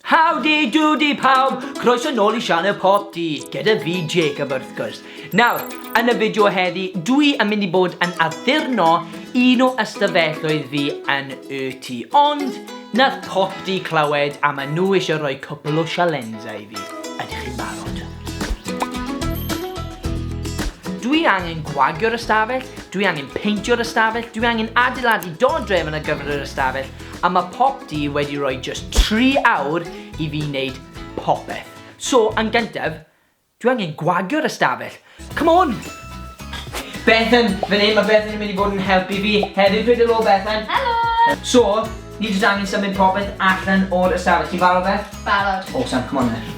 Howdy doody pawb, croeso nôl i sianel Pop Dee, gyda fi Jacob wrth gwrs. Nawr, yn y fideo heddi, dwi yn mynd i bod yn addurno un o ystafelloedd fi yn y tŷ, ond nath Pop Dee clywed a maen nhw eisiau rhoi cwpl o sialensau i fi. Ydych chi'n barod? Dwi angen gwagio'r ystafell, dwi angen peintio'r ystafell, dwi angen adeiladu dodrefn ar gyfer yr ystafell, a mae pop di wedi rhoi just 3 awr i fi wneud popeth. So, yn gyntaf, dwi angen gwagio'r ystafell. Come on! Bethan, fan hyn mae Bethan yn mynd i fod yn helpu fi hefyd. Pryd helo Bethan. Helo! So, ni jyst angen symud popeth allan o'r ystafell. Ti'n barod Beth? Barod. Awesome, come on then.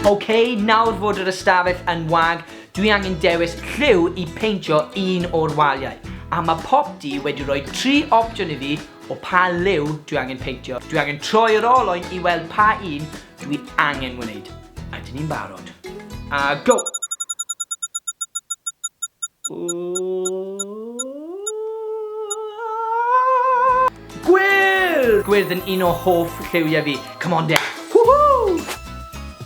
Ok, nawr fod yr ystafell yn wag, dwi angen dewis lliw i peintio un o'r waliau. A mae Popty wedi rhoi tri opsiwn i fi o pa liw dwi angen peintio. Dwi angen troi yr olwyn i weld pa un Dyn ni angen wneud, a dyn ni'n barod. A go! Gwyrdd! Gwyrdd yn un o hoff lliwiau fi. Come on, Dave.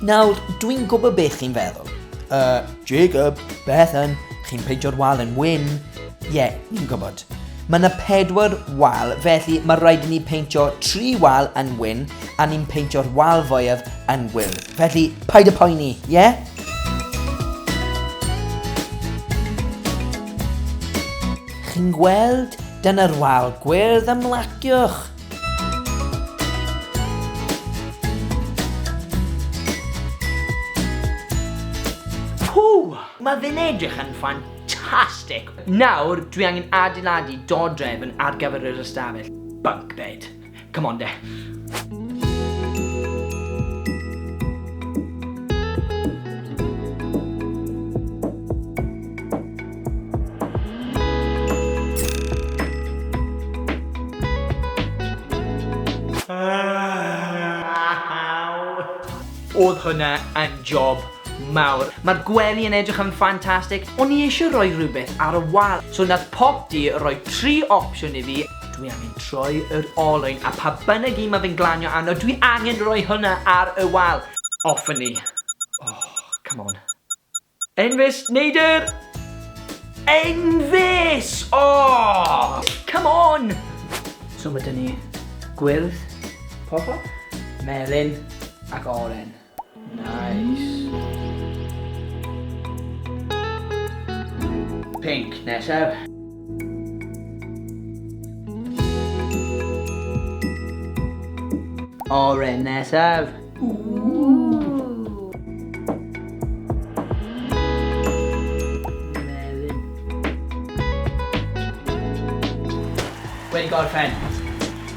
Nawr, dwi'n gwybod beth chi'n feddwl. Uh, Jacob, Bethan, chi'n peintio'r wal yn wyn. Ie, ni'n gwybod. Mae yna pedwar wal, felly mae rhaid i ni peintio tri wal yn wyn a ni'n peintio'r wal fwyaf yn gwyrdd. Felly, paid y poeni, ie? Yeah? Chi'n gweld? Dyna'r wal gwyrdd ymlaciwch. Pw! Mae fe'n edrych yn ffan Fantastic! Nawr, dwi angen adeiladu dodrefn ar gyfer yr ystafell. Bunk bed. Come on de. Oedd hwnna yn job mawr. Mae'r gwely yn edrych yn ffantastig. O'n i eisiau rhoi rhywbeth ar y wal, so wnaeth Popty roi tri opsiwn i fi. Dwi angen troi yr olwyn, a pa bynnag un mae fe'n glanio arno, dwi angen rhoi hwnna ar y wal. Off â ni. Oh, come on. Enfys, neidr! Enfys! Oh! Come on! So mae dyn ni gwyrdd, purple, melyn ac oren. Nice. Pink nesaf. Oren nesaf. Wedi gorffen.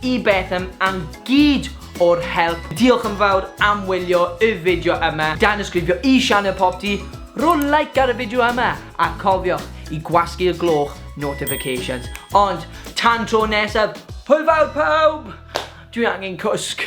Y beth am am gyd o'r help. Diolch yn fawr am wylio y fideo yma. Danysgrifio i sianel Popty, rho like ar y fideo yma, a cofiwch i gwasgu'r gloch notifications. Ond, tan tro nesaf, hwyl fawr pawb! Dwi angen cwsg.